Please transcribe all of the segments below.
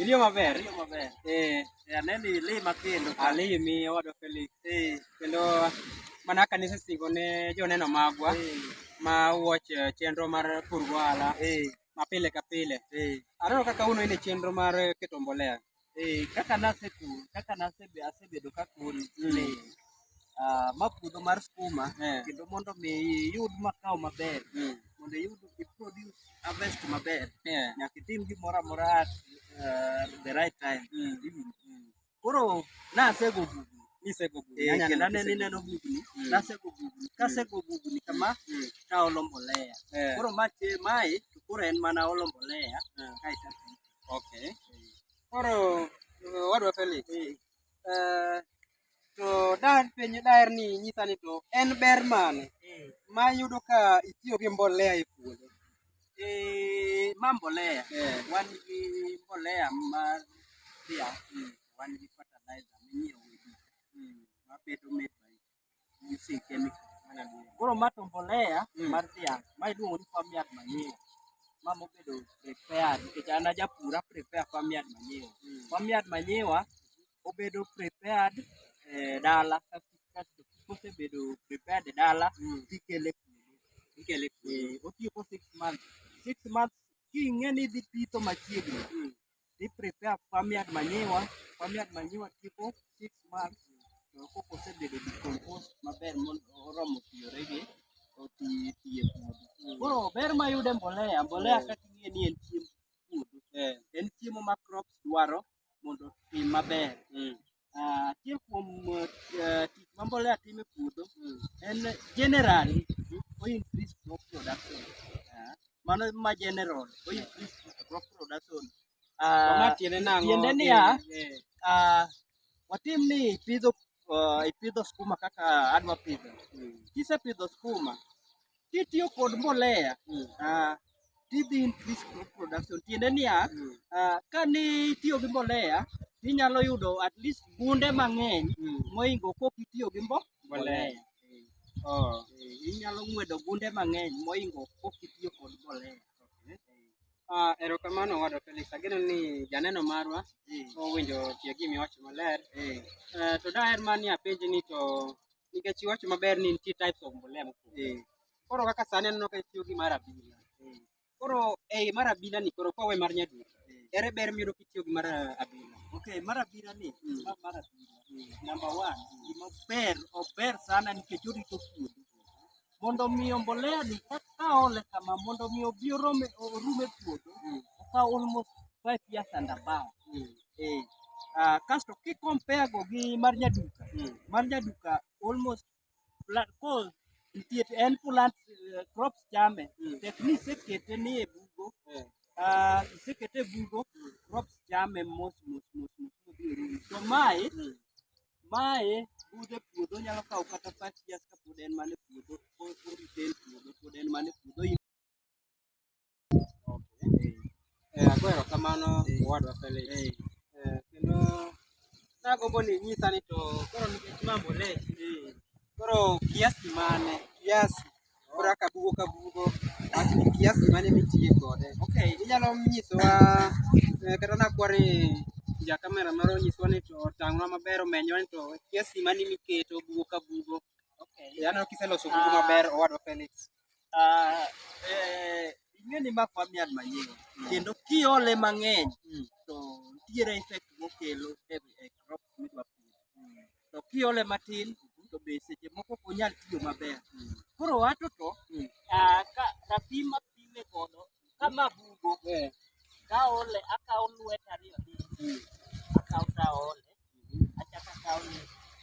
Iliyo maber. Iliyo maber. Eh, eh aneni lima kendo. Alimi ah, owadwa Felix. Eh, kendo mana kanisa singo ne joneno magwa eh. ma watch eh, chenro mar pur gohala. Eh, mapile ka pile. Eh. Aneno kaka uno ine chenro mar keto mbolea. Eh, kaka naseku kaka nasebe asebedo kakun ni ah, ma puodho mar skuma Eh. kendo mondo mi iyud makao maber Mm. mondo iyud iproduce harvest maber Yeah. nyaka itim gimoro amora at ah, the right time Mm. Iwinjo? Mm. koro nasego gugni Nisego gugni. Eh, Nyanya kendo neno aneno kisego ineno gugni. gugni Mm. nasego gugni kasego gugni kama Mm. taolo mbolea Eh. koro mache mae to koro en mana olo mbolea Eh. kae to apitho. Okay. Koro wadwa Felix. Eh, to daher penjo daher ni nyisa ni to en ber mane ma yudo ka itiyo gi mbolea e puodho? Eh, ma mbolea. Eh. Wan gi mbolea mar dhiang'. Wan gi fertilizer minyiewo e duka. Mabedo made by you see chemical mana duong. Koro ma to mbolea Mm. mar dhiang' ma iluongo ni farm yard manure. Ma mobedo prepared nikech an ajapur a prepare farm yard manure. Mm. Farm yard manure obedo prepared eh, dala kasto kasto kosebedo prepared e dala Mm. tikele puodho. Ikele Eh, otiyo ko six months. Six months king'e ni idhi pitho machiegni. Mm. i prepare farm yard manyiwa, farm yard manyiwa tipo 6 months to koko osebedo decompose maber mondo oromo tiyore gi oti tiye puodho. Koro ber mayude mbolea, mbolea yeah. kaka ing'e ni en chiemb puodho. Yeah. En chiemo ma crops dwaro mondo tim maber. Mm. Ah, achiel kuom eh, tich ma mbolea timo e puodho en generally o increase crop production Ah, mano ma general o increase crop production Ah, Ma tiende nang'o? tiende niya Eh, ah, watim ni ipidho ah, ipidho skuma kaka adwa pidho kisepidho skuma kitiyo kod mbolea mm. uh, tidhi increase crop production tiende niya mm. uh, ka ni itiyo gi mbolea tinyalo yudo at least gunde mang'eny mm. moingo kok itiyo gi mbo mbolea oh. eh, inyalo ng'wedo gunde mang'eny moingo kok itiyo kod mbolea okay. Uh, erokamano wado Felix, ageno ni janeno marwa mm. owinjo tie gimi wacho maler mm. uh, to daher mani apenji ni to nikech iwacho maber ni nitie types of mbolea mopogore. Eh. Koro kaka sani aneno ka itiyo gi mar abila. Eh. Koro ei mar abila ni koro kwawe mar nyaduka. Eh. Ere ber miyudo kitiyo gi mar abila? Okay, mar abila ni, mm. ma mar abila. Mm. Number one, gima ber, ober sana nikech orito puodho. mondo mi mbolea ni ka ole kama mondo mi obi orome orume puodho ka almost 5 years and above eh ah, kasto ki compare go gi mar nyaduka mar nyaduka almost pla- cause nitie en plant eh, crops chame tek ni isekete ni e bugo ah, isekete e bugo crops chame mos mos mos mos modhi orumo to mae Mae budho e puodho onyalo kawo kata five years kapod en mana e puodho orite e puodho pod en mana e puodho in Eh, ago erokamano owadwa Felix. Eh, kendo nagombo ni inyisa ni to koro nikech ma mbolea eh, koro kiasi mane kiasi Ora kabugo kabugo at kiasi mane mitiye kode. Okay. Inyalo nyisowa eh, kata nakwari ja kamera moro nyisowa ni to tang'wa maber omenyo ni to kiasi mane miketo bugo kabugo. Okay. Yano kiseloso bugo maber owadwa Felix. Ah, eh, ing'e ni ma farmyard manyien kendo kiole mang'eny to nitiere effect mokelo e e crop midwa pidho. to kiole matin to be seche moko ok onyal tiyo maber. Koro wacho to mm. ah, ka rapim mapime godo kama bugo eh. kaole akawo lweta ariyo mm. akawo taole mm-hmm. achako akawo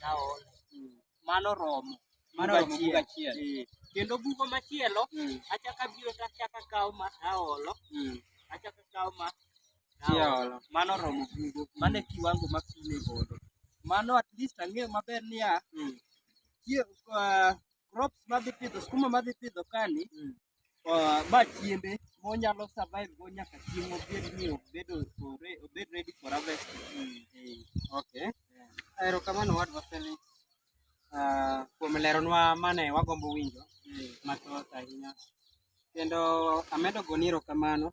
taole mm. mano romo mano romo bugo achiel eh. kendo bugo machielo achako abiro to achako akawo ma aolo achako akawo ma Tiolo. Mano romo bugo. Mano e kiwango ma pi ne godo. Mano at least ang'eyo maber niya, Mm. tie- ah, crops madhi pidho, skuma madhi pidho kani, Mm. ah, ma chiembe monyalo survive go nyaka chieng' obed ni obedo ore- obed ready for harvest. Eh, Okay. Erokamano wadwa Felix ah, kuom leronwa mane wagombo winjo eh. mathoth ahinya. Kendo amedo goni erokamano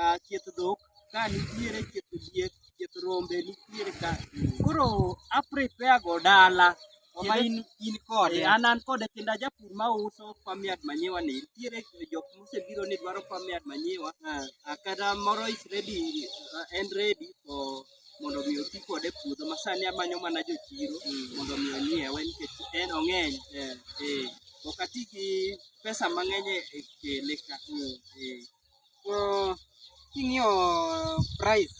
ah, chieth dhok ka nitiere chieth diek chieth rombe nitiere ka koro a prepare go dala ma in in kode eh, an an kode kendo ajapur ma uso famiad manyiwa ni nitiere jok mosebiro ni dwaro famiad manyiwa ah. ah, kata moro is ready uh, and ready for mondo mi oti kode e puodho ma sani amanyo mana jochiro mm. mondo mi onyiewe nikech en ong'eny eh. Eh. ok ati gi pesa mang'eny e kele ka mm. eh. to king'iyo price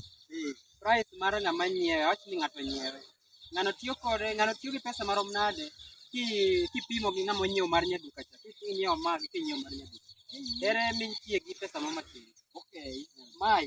price mar ng'ama nyiewe awach ni ng'ato nyiewe ng'ano tiyo kode ng'ano tiyo gi pesa marom nade kipimo gi ng'ama onyiewo mar nyaduka cha kinyiewo magi kinyiewo mar nyaduka ere mitie gi pesa ma matin okay mai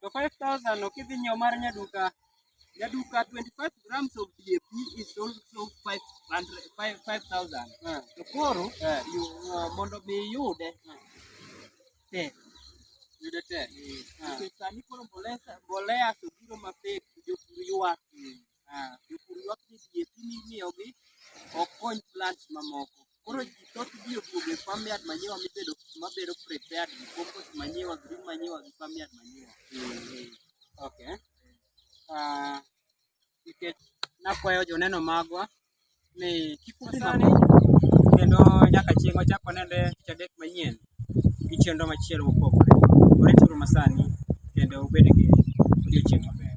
to 5000 ok idhi nyiewo mar nyaduka nyaduka 25 grams of DAP is also 500 5000 Eh. to koro Eh. you, uh, mondo mi iyude tek Yude tek. Eh. nikech sani koro mbolea mbolea to biro mapek jopur ywak Ah, jopur ywak ni DAP mimiyogi ok kony plants mamoko. Koro ji thoth ji oduogo e farmyard manyiwa mibedo mabedo prepared gi compost manyiwa, green manyiwa gi farmyard manyiwa. Okay. Ah, nikech nakwayo joneno magwa ni kik udhi sani kendo nyaka chieng' wachak wanende tich adek manyien gi chenro machielo mopogore. Warituru masani kendo ubed gi odiochieng' maber.